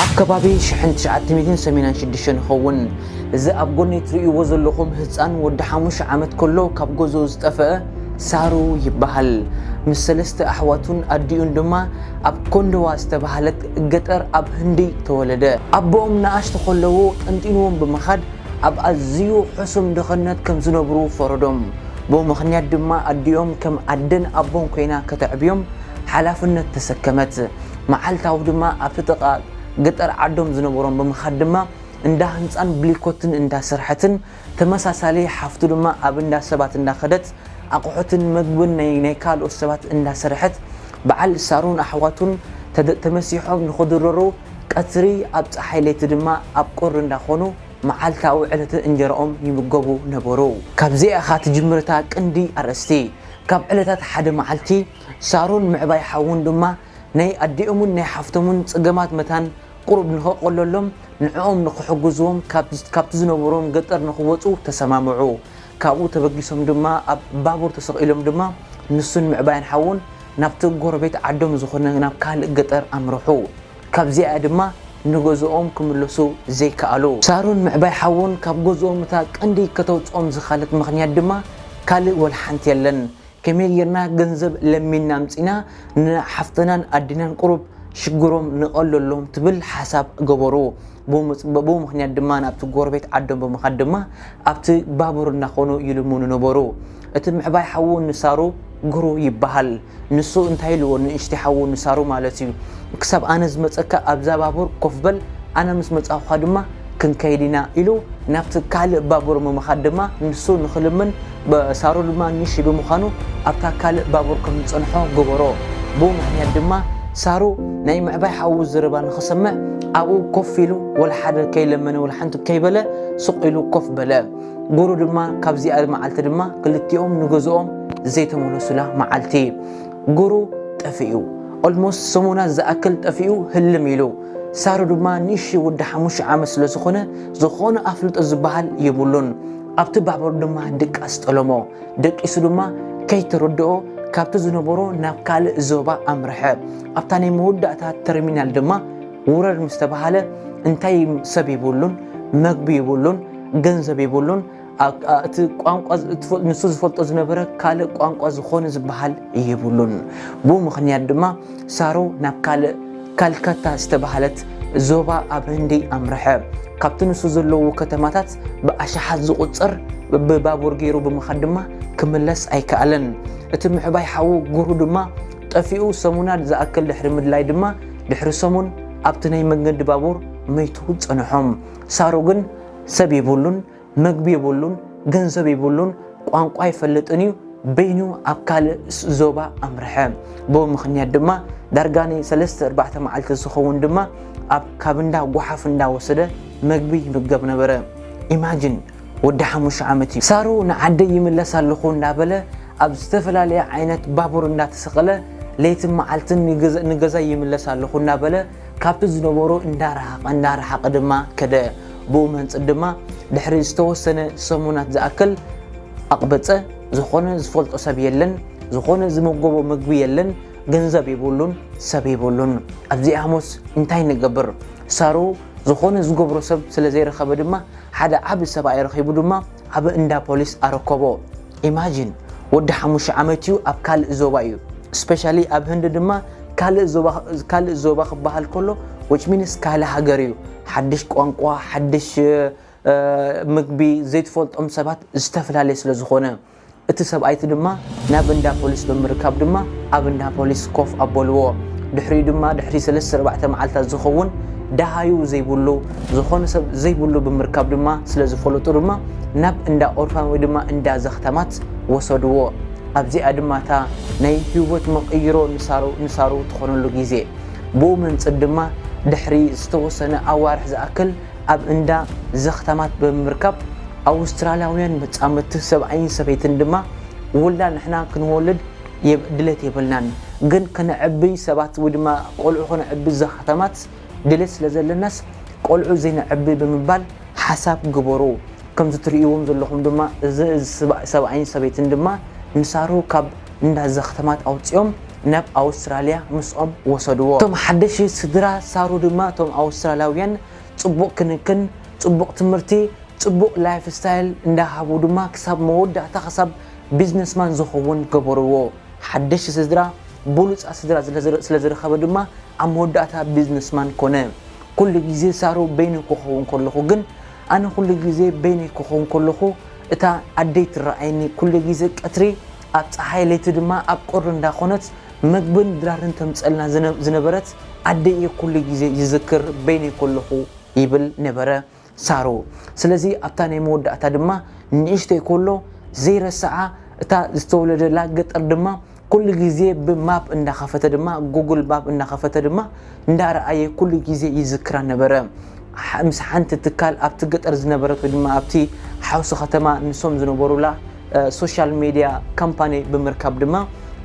ኣብ ከባቢ ሽሕን ትሽዓተ ሚእትን ሰሜናን ሽዱሽተን ይኸውን። እዚ ኣብ ጎነይ ትርእይዎ ዘለኹም ህጻን ወዲ ሓሙሽተ ዓመት ከሎ ካብ ገዝኡ ዝጠፈኣ ሳሩ ይበሃል። ምስ ሰለስተ ኣሕዋቱን ኣዲኡን ድማ ኣብ ኮንደዋ ዝተበሃለት ገጠር ኣብ ህንዲ ተወለደ። ኣቦኦም ንኣሽቱ ከለዉ ጠንጢንዎም ብምኻድ ኣብ ኣዝዩ ሕሱም ድኽነት ከም ዝነብሩ ፈረዶም። ብኡ ምኽንያት ድማ ኣዲኦም ከም ኣደን ኣቦን ኮይና ከተዕብዮም ሓላፍነት ተሰከመት። መዓልታዊ ድማ ኣብቲ ጥቓ ገጠር ዓዶም ዝነበሮም ብምኻድ ድማ እንዳ ህንጻን ብሊኮትን እንዳ ሰርሐትን ተመሳሳሊ ሓፍቱ ድማ ኣብ እንዳ ሰባት እንዳ ከደት ኣቑሑትን መግብን ናይ ናይ ካልኦት ሰባት እንዳ ሰርሐት በዓል ሳሩን ኣሕዋቱን ተደ ተመሲሖም ንኽድረሩ ቀትሪ ኣብ ጸሓይ ለይቲ ድማ ኣብ ቁሪ እንዳ ኾኑ መዓልታዊ ዕለትን እንጀራኦም ይምገቡ ነበሩ። ካብዚኣ እኻ ትጅምር እታ ቅንዲ ኣርእስቲ። ካብ ዕለታት ሓደ መዓልቲ። ሳሮን ምዕባይ ሓዉን ድማ ናይ ኣዲኦምን ናይ ሓፍቶምን ጸገማት መታን ቁሩብ ንኸቐለሎም ንዕኦም ንኽሕግዝዎም ካብቲ ዝነበሮም ገጠር ንኽወጹ ተሰማምዑ። ካብኡ ተበጊሶም ድማ ኣብ ባቡር ተሰቒሎም ድማ ንሱን ምዕባይን ሓዉን ናብቲ ጎረቤት ዓዶም ዝኾነ ናብ ካልእ ገጠር ኣምርሑ። ካብዚኣ'ያ ድማ ንገዝኦም ክምለሱ ዘይከኣሉ። ሳሮን ምዕባይ ሓዉን ካብ ገዝኦም እታ ቀንዲ ከተዉጽኦም ዝኸኣለት ምኽንያት ድማ ካልእ ወላሓንቲ የለን። ከመይ ጌርና ገንዘብ ለሚንና ኣምጺእና ንሓፍትናን ኣዴናን ቁሩብ ሽግሮም ነቐለሎም ትብል ሓሳብ ገበሩ። ብኡ ምኽንያት ድማ ናብቲ ጎረቤት ዓዶም ብምኻድ ድማ ኣብቲ ባቡር እናኾኑ ይልምኑ ነበሩ። እቲ ምዕባይ ሓዉ ንሳሩ ግሩ ይበሃል። ንሱ እንታይ ኢልዎ ንእሽተይ ሓዉ ንሳሩ ማለት እዩ ክሳብ ኣነ ዝመጸካ ኣብዛ ባቡር ኮፍ በል ኣነ ምስ መጻኹኻ ድማ ክንከይድ ኢና ኢሉ ናብቲ ካልእ ባቡር ምምኻድ ድማ ንሱ ንክልምን ሳሩ ድማ ንሺ ብምዃኑ ኣብታ ካልእ ባቡር ከም ዝጸንሖ ገበሮ። ብኡ ምኽንያት ድማ ሳሩ ናይ ምዕባይ ሓዉ ዝርባ ንክሰምዕ ኣብኡ ኮፍ ኢሉ ወላ ሓደ ከይለመነ ወላ ሓንቲ ከይበለ ሱቕ ኢሉ ኮፍ በለ። ጉሩ ድማ ካብዚኣ መዓልቲ ድማ ክልቲኦም ንገዝኦም ዘይተመለሱላ መዓልቲ ጉሩ ጠፊኡ። ኦልሞስት ሰሙናት ዝኣክል ጠፊኡ ህልም ኢሉ። ሳሩ ድማ ንእሽተይ ወዳ ሓሙሽተ ዓመት ስለ ዝኾነ ዝኾነ ኣፍልጦ ዝበሃል የብሉን። ኣብቲ ባቡር ድማ ድቃስ ጠለሞ። ደቂሱ ድማ ከይተረድኦ ካብቲ ዝነበሮ ናብ ካልእ ዞባ ኣምርሐ። ኣብታ ናይ መወዳእታ ተርሚናል ድማ ውረድ ምስ ተባሃለ እንታይ ሰብ የብሉን፣ መግቢ የብሉን፣ ገንዘብ የብሉን፣ እቲ ቋንቋ ንሱ ዝፈልጦ ዝነበረ ካልእ ቋንቋ ዝኾነ ዝበሃል የብሉን ብኡ ምኽንያት ድማ ሳሮ ናብ ካልእ ካልካታ ዝተባሃለት ዞባ ኣብ ህንዲ ኣምርሐ ካብቲ ንሱ ዘለዎ ከተማታት ብኣሽሓት ዝቁፅር ብባቡር ገይሩ ብምኻድ ድማ ክምለስ ኣይከኣለን እቲ ምሕባይ ሓዉ ጉሩ ድማ ጠፊኡ ሰሙናት ዝኣክል ድሕሪ ምድላይ ድማ ድሕሪ ሰሙን ኣብቲ ናይ መንገዲ ባቡር መይቱ ፀንሖም ሳሮ ግን ሰብ የብሉን መግቢ የብሉን፣ ገንዘብ የብሉን፣ ቋንቋ ኣይፈልጥን እዩ። በይኑ ኣብ ካልእ ዞባ ኣምርሐ። ብኡ ምኽንያት ድማ ዳርጋ ናይ ሰለስተ ኣርባዕተ መዓልቲ ዝኸውን ድማ ኣብ ካብ እንዳ ጓሓፍ እንዳወሰደ መግቢ ይምገብ ነበረ። ኢማጂን ወዲ ሓሙሽተ ዓመት እዩ። ሳሩ ንዓደይ ይምለስ ኣለኹ እንዳበለ ኣብ ዝተፈላለየ ዓይነት ባቡር እንዳተሰቐለ ለይትን መዓልትን ንገዛይ ይምለስ ኣለኹ እናበለ ካብቲ ዝነበሮ እንዳረሓቐ እንዳረሓቐ ድማ ከደ። ብኡ መንጽር ድማ ድሕሪ ዝተወሰነ ሰሙናት ዝኣክል ኣቕበጸ። ዝኾነ ዝፈልጦ ሰብ የለን፣ ዝኾነ ዝመጎቦ ምግቢ የለን፣ ገንዘብ ይብሉን ሰብ ይብሉን። ኣብዚኣሞስ እንታይ ንገብር? ሳሩ ዝኾነ ዝገብሮ ሰብ ስለ ዘይረኸበ ድማ ሓደ ዓብ ሰብኣይ ረኺቡ ድማ ኣብ እንዳ ፖሊስ ኣረከቦ ኢማጂን ወዲ ሓሙሽተ ዓመት እዩ ኣብ ካልእ ዞባ እዩ ስፔሻሊ ኣብ ህንዲ ድማ ካልእ ዞባ ክበሃል ከሎ ዊች ሚንስ ካልእ ሃገር እዩ ሓድሽ ቋንቋ፣ ሓድሽ ምግቢ ዘይትፈልጦም ሰባት ዝተፈላለየ ስለ ዝኾነ፣ እቲ ሰብኣይቲ ድማ ናብ እንዳ ፖሊስ ብምርካብ ድማ ኣብ እንዳ ፖሊስ ኮፍ ኣበልዎ። ድሕሪኡ ድማ ድሕሪ ሰለስተ ኣርባዕተ መዓልታት ዝኸውን ደሃዩ ዘይብሉ ዝኾነ ሰብ ዘይብሉ ብምርካብ ድማ ስለ ዝፈለጡ ድማ ናብ እንዳ ኦርፋን ወይ ድማ እንዳ ዘኽታማት ወሰድዎ። ኣብዚኣ ድማ እታ ናይ ህይወት መቐይሮ ንሳሩ ንሳሩ ትኾነሉ ግዜ ብኡ መንጽር ድማ ድሕሪ ዝተወሰነ ኣዋርሕ ዝኣክል ኣብ እንዳ ዘኽታማት ብምምርካብ ኣውስትራልያውያን መጻምድቲ ሰብኣይን ሰበይትን ድማ ውላድ ንሕና ክንወልድ ድሌት የብልናን ግን ከነዕቢ ሰባት ወይ ድማ ቆልዑ ከነዕቢ ዘኽታማት ድሌት ስለ ዘለናስ ቆልዑ ዘይነዕቢ ብምባል ሓሳብ ክግበሩ ከምዚ ትርእይዎም ዘለኹም ድማ እዚ ሰብኣይን ሰበይትን ድማ ንሳሮ ካብ እንዳ ዘኽተማት ኣውጺኦም ናብ ኣውስትራልያ ምስኦም ወሰድዎ። እቶም ሓደሽቲ ስድራ ሳሩ ድማ እቶም ኣውስትራልያውያን ጽቡቕ ክንክን፣ ጽቡቕ ትምህርቲ፣ ጽቡቕ ላይፍ ስታይል እንዳ ሃቡ ድማ ክሳብ መወዳእታ ክሳብ ቢዝነስማን ዝኸውን ገበርዎ። ሓደሽቲ ስድራ ብሉጻት ስድራ ስለ ዝረኸበ ድማ ኣብ መወዳእታ ቢዝነስማን ኮነ። ኩሉ ግዜ ሳሩ በይኑ ክኸውን ከለኹ ግን ኣነ ኩሉ ግዜ በይነይ ክኾን ከለኹ እታ ኣደይ ትረኣየኒ ኩሉ ግዜ ቀትሪ ኣብ ጸሓይ ለይቲ ድማ ኣብ ቁሪ እንዳ ኮነት መግብን ድራርን ተምጸልና ዝነበረት ኣደይ እየ ኩሉ ግዜ ዝዝክር በይነይ ከለኹ ይብል ነበረ ሳሩ ስለዚ ኣብታ ናይ መወዳእታ ድማ ንእሽተይ ከሎ ዘይረስዓ እታ ዝተወለደላ ገጠር ድማ ኩሉ ግዜ ብ ማፕ እንዳከፈተ ድማ ጉግል ማፕ እንዳከፈተ ድማ እንዳረኣየ ኩሉ ግዜ ይዝክራ ነበረ ምስ ሓንቲ ትካል ኣብቲ ገጠር ዝነበረት ወይ ድማ ኣብቲ ሓውሲ ከተማ ንሶም ዝነበሩላ ሶሻል ሜድያ ካምፓኒ ብምርካብ ድማ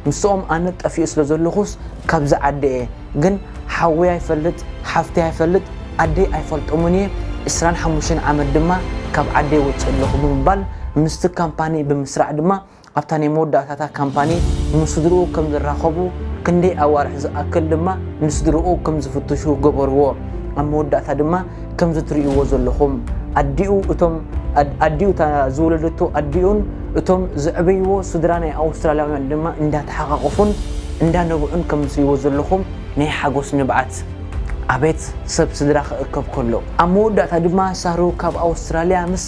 ምስኦም ኣነ ጠፊኡ ስለ ዘለኹስ ካብዚ ዓዲ እየ ግን ሓወይ ኣይፈልጥ ሓፍተይ ኣይፈልጥ ኣደይ ኣይፈልጦምን እየ ዕስራን ሓሙሽተን ዓመት ድማ ካብ ዓደይ ወፅእ ኣለኹ ብምባል ምስቲ ካምፓኒ ብምስራዕ ድማ ኣብታ ናይ መወዳእታታ ካምፓኒ ምስ ስድርኡ ከም ዝራኸቡ፣ ክንደይ ኣዋርሕ ዝኣክል ድማ ንስድርኡ ከም ዝፍትሹ ገበርዎ። ኣብ መወዳእታ ድማ ከምዚ ትርእይዎ ዘለኹም ኣዲኡ እቶም ኣዲኡ እታ ዝወለደቶ ኣዲኡን እቶም ዘዕበይዎ ስድራ ናይ ኣውስትራልያውያን ድማ እንዳተሓቓቖፉን እንዳነብዑን ከም ትርእይዎ ዘለኹም ናይ ሓጎስ ንብዓት ኣቤት ሰብ ስድራ ክእከብ ከሎ። ኣብ መወዳእታ ድማ ሳሩ ካብ ኣውስትራልያ ምስ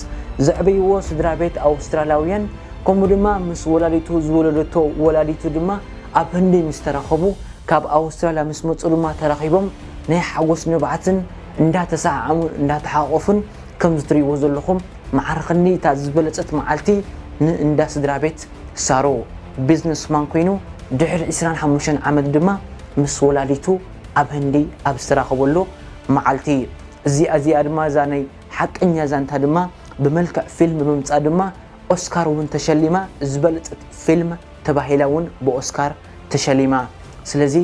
ዘዕበይዎ ስድራ ቤት ኣውስትራልያውያን ከምኡ ድማ ምስ ወላዲቱ ዝወለደቶ ወላዲቱ ድማ ኣብ ህንዲ ምስ ተራኸቡ ካብ ኣውስትራልያ ምስ መጹ ድማ ተራኺቦም ናይ ሓጎስ ንብዓትን እንዳ ተሰዓዓሙን እንዳ ተሓቖፉን ከምዚ ትርእይዎ ዘለኹም መዓር ክንዲ እታ ዝበለጸት መዓልቲ ን እንዳ ስድራቤት ሳሮ ቢዝነስ ማን ኮይኑ ድሕሪ ዕስራን ሓሙሽተን ዓመት ድማ ምስ ወላዲቱ ኣብ ህንዲ ኣብ ዝተራኸበሉ መዓልቲ እዚኣ እዚኣ ድማ እዛ ናይ ሓቀኛ ዛንታ ድማ ብመልክዕ ፊልም ምምጻ ድማ ኦስካር ውን ተሸሊማ ዝበለጸት ፊልም ተባሂላ ውን ብኦስካር ተሸሊማ ስለዚ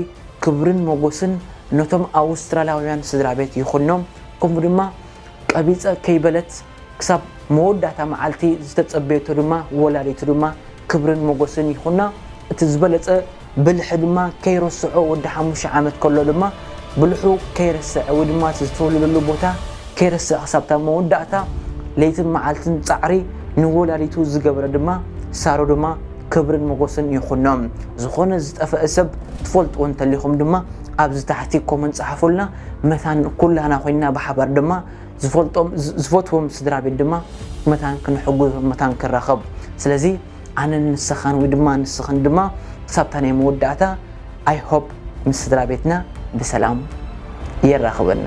ክብርን ሞጎስን ነቶም ኣውስትራላውያን ስድራቤት ይኹኖም ከምኡ ድማ ቀቢጸ ከይበለት ክሳብ መወዳእታ መዓልቲ ዝተጸበየቶ ድማ ወላዲቱ ድማ ክብርን ሞጎስን ይኹና እቲ ዝበለጸ ብልሒ ድማ ከይረስዖ ወዲ ሓሙሽተ ዓመት ከሎ ድማ ብልሑ ከይረሰዐ ወይ ድማ እቲ ዝተወለደሉ ቦታ ከይረሰዐ ክሳብታ መወዳእታ ለይትን መዓልትን ፃዕሪ ንወላዲቱ ዝገበረ ድማ ሳሮ ድማ ክብርን መጎስን ይኹኖም ዝኾነ ዝጠፈእ ሰብ ትፈልጥዎ እንተሊኹም ድማ ኣብዚ ታሕቲ ኮመንት ፀሓፉልና መታን ኩላና ኮይና ብሓባር ድማ ዝፈልጦም ዝፈትዎም ስድራ ቤት ድማ መታን ክንሕግዞ መታን ክራኸብ ስለዚ ኣነን ንሰኻን ወይ ድማ ንስኽን ድማ ክሳብታ ናይ መወዳእታ ኣይ ሆፕ ምስ ስድራ ቤትና ብሰላም የራኽበና።